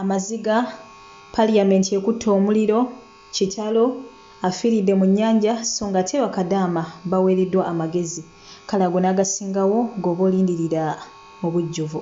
amaziga parliament ekutte omuliro kitalo afiiridde mu nnyanja so nga ate bakadaama baweereddwa amagezi kale ago n'agasingawo g'oba olindirira mu bujjuvu.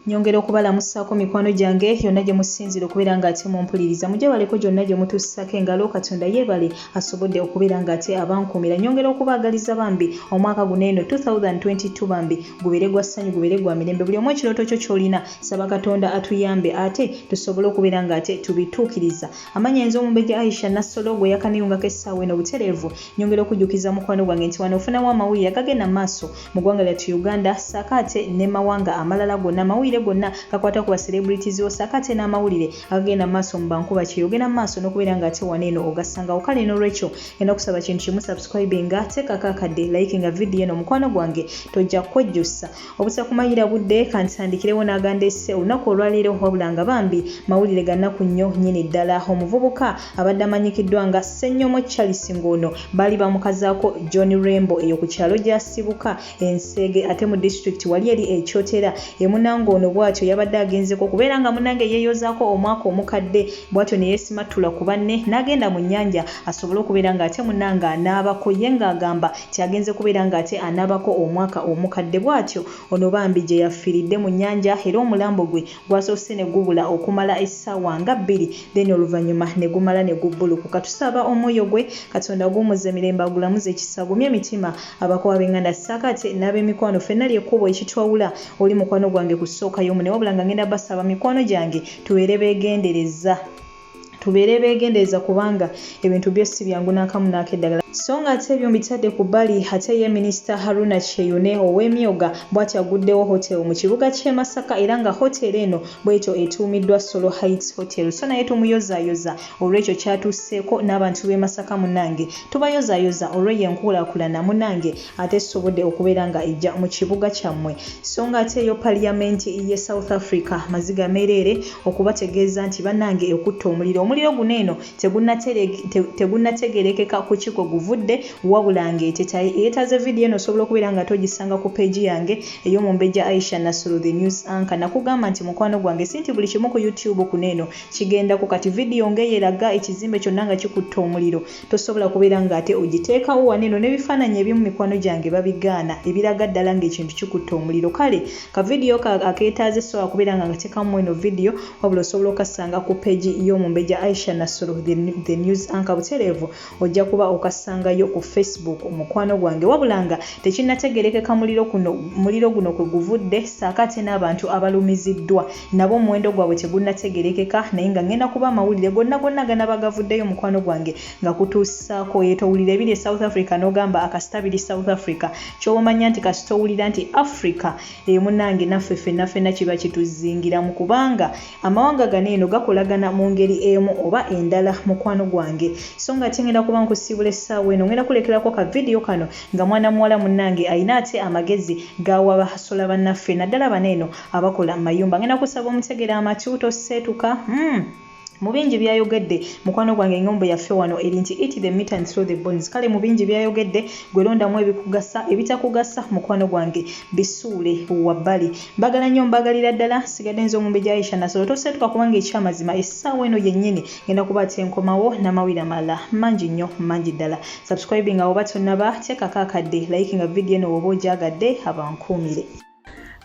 nyongera okubalamusaako mikwano gyange yonna gye musinzira okubeera ng'ate mumpuliriza mujabaleko gyonna gye mutuusisako engalo katonda yeebale asobodde okubeera ng'ate abankuumira nyongera okubaagaliza bambi omwaka guno eno 2022 bambi gubeere gwa ssanyu gubeere gwa mirembe buli omu ekirooto kyo ky'olina saba katonda atuyambe ate tusobole okubeera ng'ate tubituukiriza amanya enze omumbejja aisha nassolo gwe yakaniyungako essaawa eno butereevu nyongera okujjukiza mukwano gwange nti wano ofunawo amawulire agagenda maaso mu ggwanga lyattu uganda saako ate ne mawanga amalala gonna amawulire gonna gakwata ku bacelebrities wo saako ate n'amawulire agagenda mu maaso mu bankuba kyeyogera mu maaso n'okubeera nga ate wano eno ogasangawo kale n'olwekyo ena okusaba kintu kimu subscribe nga teekako akadde like nga vidiyo eno mukwano gwange tojja kwejjusa obutakumayira budde kantitandikirewo n'aganda esse olunaku olwaleero wabula nga bambi mawulire gannaku nnyo nyini ddala omuvubuka abadde amanyikiddwa nga Ssenyomo Charles ng'ono baali bamukazaako John Rembo eyo ku kyalo gy'asibuka Enseege ate mu disitulikiti wali eri e Kyotera e munange ono bw'atyo yabadde agenzeko okubeera nga munange yeeyozaako omwaka omukadde bw'atyo ne yeesimattula ku banne n'agenda mu nnyanja asobole okubeera ng'ate munange anaabako ye ng'agamba nti agenze kubeera ng'ate anaabako omwaka omukadde bw'atyo ono bambi gye yafiiridde mu nnyanja era omulambo gwe Gwasoose ne gubula okumala essaawa nga bbiri then oluvanyuma ne gumala ne gubbulukuka. Tusaba omwoyo gwe Katonda aguwumuzze mirembe agulamuze kisa agumye emitima abakowa abenganda ssaako ate n'abemikwano ffenna ly'ekkubo ekitwawula oli mukwano gwange ku ssooka y'omune wabula nga ngenda basaba mikwano gyange tubeere begendereza tubeere beegendereza kubanga ebintu byo si byangu n'akamu n'akeddagala so nga ate ebyo mbitadde ku bbali ate ye minisita haruna kyeyune ow'emyoga bw'ati aguddewo hotel mu kibuga ky'e masaka era nga hotel eno bw'etyo etuumiddwa solo heights hotel so naye tumuyozaayoza olw'ekyo kyatuuseeko n'abantu b'e masaka munange tubayozaayoza olw'eyo enkuulaakulana munange ate esobodde okubeera nga ejja mu kibuga kyammwe so nga ate eyo paliyamenti ye south africa maziga meereere okubategeeza nti bannange ekutta omuliro omuliro guno eno tegunnategerekeka ku kiko guvudde wabula ng'etetaye eyetaaze vidiyo eno osobola okubeera nga togisanga ku peegi yange ey'omumbejja aisha nasulu the news anka nakugamba nti mukwano gwange si nti buli kimu ku youtube kuno eno kigendako kati vidiyo ng'eyeraga ekizimbe kyonna nga kikutta omuliro Tosobola kubeera nga ate ogiteekawo wano eno nebifaananyi ebimu mikwano gyange babigaana ebiraga ddala nga ekintu kikutte omuliro kale ka video ko akeetaaza essaawa kubeera nga ngatekamu mweno video wabula osobola okassanga ku page y'omumbeja Aisha Nasoro the, the news anchor butereevu ojja kuba okassangayo ku Facebook mukwano gwange wabula nga tekinnategerekeka muliro kuno muliro guno kwe guvudde saako ate n'abantu abalumiziddwa nabo omuwendo gwabwe tegunnategerekeka naye nga ngenda kuba amawulire gonna gonna ganaba gavuddeyo mukwano gwange nga kutuusaako yeto owulira ebiri e south africa n'ogamba akasita biri south africa kyoba omanya nti kasita owulira nti africa eyo munange naffe fenna fenna kiba kituzingiramu kubanga amawanga gano eno gakolagana mu ngeri emu oba endala mukwano gwange so nga ate ngenda kuba nkusiibula essaawa eno ngenda kulekerako ka vidiyo kano nga mwana muwala munange alina ate amagezi gawa bahasola bannaffe naddala bano eno abakola mu mayumba ngenda kusaba omutegera amatu toseetuka mm. mu bingi byayogedde mukwano gwange eŋŋombo yaffe wano eri nti it the meat and through the bones kale mu bingi byayogedde gwelondamu ebikugasa ebitakugasa mukwano gwange bisuule wabbali mbagala nnyo mbagalira ddala sigadde nze omumbe gyaisha nasolo toseetuka kubanga ekyamazima essaawa eno yennyini ngenda kuba ati enkomawo n'amawire amalala mangi nnyo mangi ddala subscribing awo batonaba teekako akadde layiki nga vidiyo eno woba ogyagadde abankuumire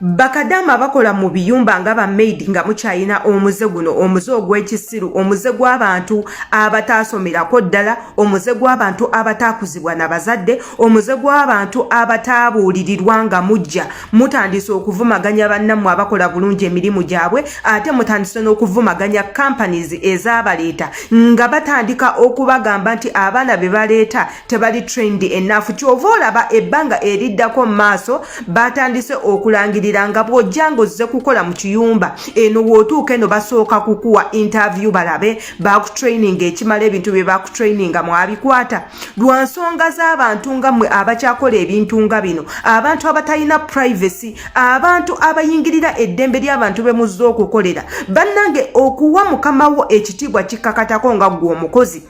bakadaama bakola mu biyumba nga ba maid nga mukyayina omuze guno omuze ogw'ekisiru omuze gw'abantu abataasomerako ddala omuze gw'abantu abataakuzibwa na bazadde omuze gw'abantu abataabuulirirwa nga mujja mutandise okuvumaganya bannammwe abakola bulungi emirimu gyabwe ate mutandise n'okuvumaganya companies ezabaleeta nga batandika okubagamba nti abaana be baleeta tebali trained enaafu kyova olaba ebbanga eriddako mu maaso baatandise okulangirira nga bw'ojja ng'ozze kukola mu kiyumba eno w'otuuka eno basooka kukuwa intavyu balabe baakutraininga ekimala ebintu bye baakutraininga mwabikwata lwa nsonga z'abantu nga mmwe abakyakola ebintu nga bino abantu abatalina privacy abantu abayingirira eddembe ly'abantu be muzze okukolera bannange okuwa mukama wo ekitiibwa kikkakatako nga ggwe omukozi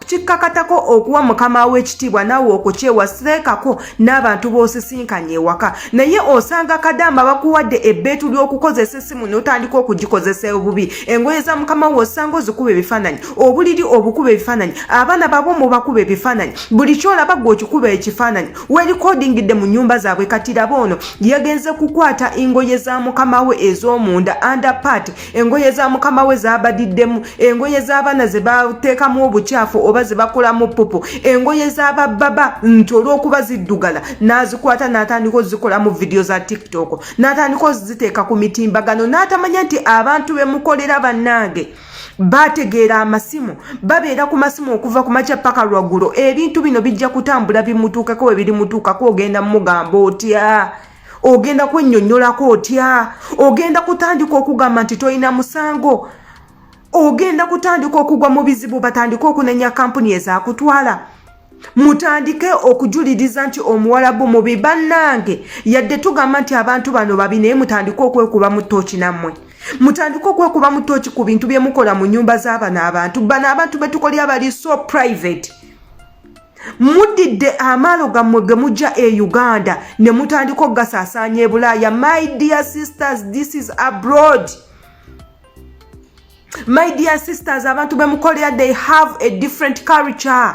kikkakatako okuwa mukama w'ekitiibwa naawe okukyewa seekako n'abantu b'osisinkanye ewaka naye osanga kadaama bakuwadde ebbeetu ly'okukozesa essimu n'otandika okugikozesa obubi engoye za mukama wo osanga ozikuba ebifaananyi obuliri obukuba ebifaananyi abaana babo mubakuba ebifaananyi buli kyolaba gwe okikuba ekifaananyi werikodingidde mu nnyumba zaabwe kati laba ono yagenze kukwata engoye za mukama we ez'omunda under party engoye za mukama we zabadiddemu engoye z'abaana ze bateekamu obukyafu oba ze bakolamu pupu engoye z'abababa nti olw'okuba ziddugala n'azikwata n'atandika ozikolamu vidiyo za tiktok n'atandika oziteeka ku mitimbagano n'atamanya nti abantu be mukolera bannange bategeera amasimu babeera ku masimu okuva ku makya paka lwaggulo ebintu bino bijja kutambula bimutuukeko we birimutuukako ogenda mugamba otya ogenda kwennyonnyolako otya ogenda kutandika okugamba nti tolina musango ogenda kutandika okugwa mu bizibu batandike okunenya kampuni ezakutwala mutandike okujuliriza nti omuwalabu mubi bannange yadde tugamba nti abantu bano babi naye mutandike okwekuba mu tooki nammwe mutandike okwekuba mu tooki ku bintu bye mukola mu nyumba z'abano abantu bano abantu betukolya bali so private mudidde amaalo gammwe ge mujja e uganda ne mutandika okugasaasaanya ebulaaya my dear sisters this is abroad my dear sisters abantu bemukolera they have a different culture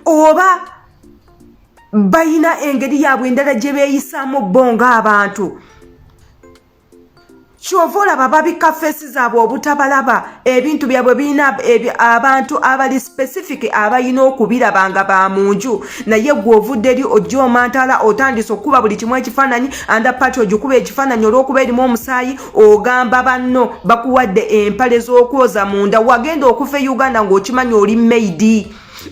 oba bayina engeri yaabwe endala gye beeyisaamu bo ng'abantu kyova olaba babika feesi zaabwe obutabalaba ebintu byabwe birina abantu abali specific abalina okubiraba nga ba mu nju naye gwe ovudde eri ojja omantala otandise okukuba buli kimu ekifaananyi anda pati ogikuba ekifaananyi olw'okuba erimu omusaayi ogamba banno bakuwadde empale z'okwoza munda wagenda okufa e uganda ng'okimanyi oli maidi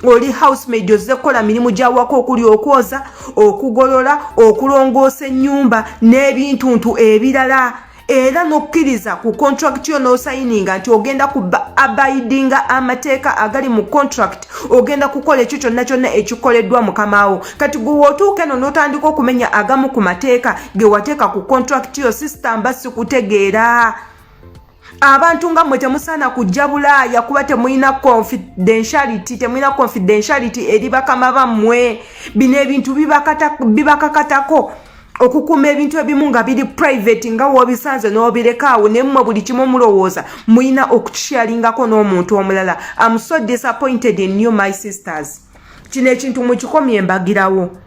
oli housemaid ozze kukola mirimu gyawaka okuli okwoza okugolola okulongoosa ennyumba n'ebintuntu ebirala era n'okkiriza ku contract yo n'osayininga nti ogenda ku abidinga amateeka agali mu contract ogenda kukola ekyo kyonna kyonna ekikoleddwa mukamaawo kati gwe wootuuka eno n'otandika okumenya agamu ku mateeka ge wateeka ku contract yo sisitamba sikutegeera abantu nga mwe temusaana kujja bulaaya kuba temulina confidentiality temulina confidentiality eri bakama bammwe bino ebintu bibakakatako okukuuma ebintu ebimu nga biri private nga wobisanze nobirekaawo naye mmwe buli kimu mulowooza mulina okukikyalingako n'omuntu omulala am so disappointed in new my sisters kino ekintu mukikomye embagirawo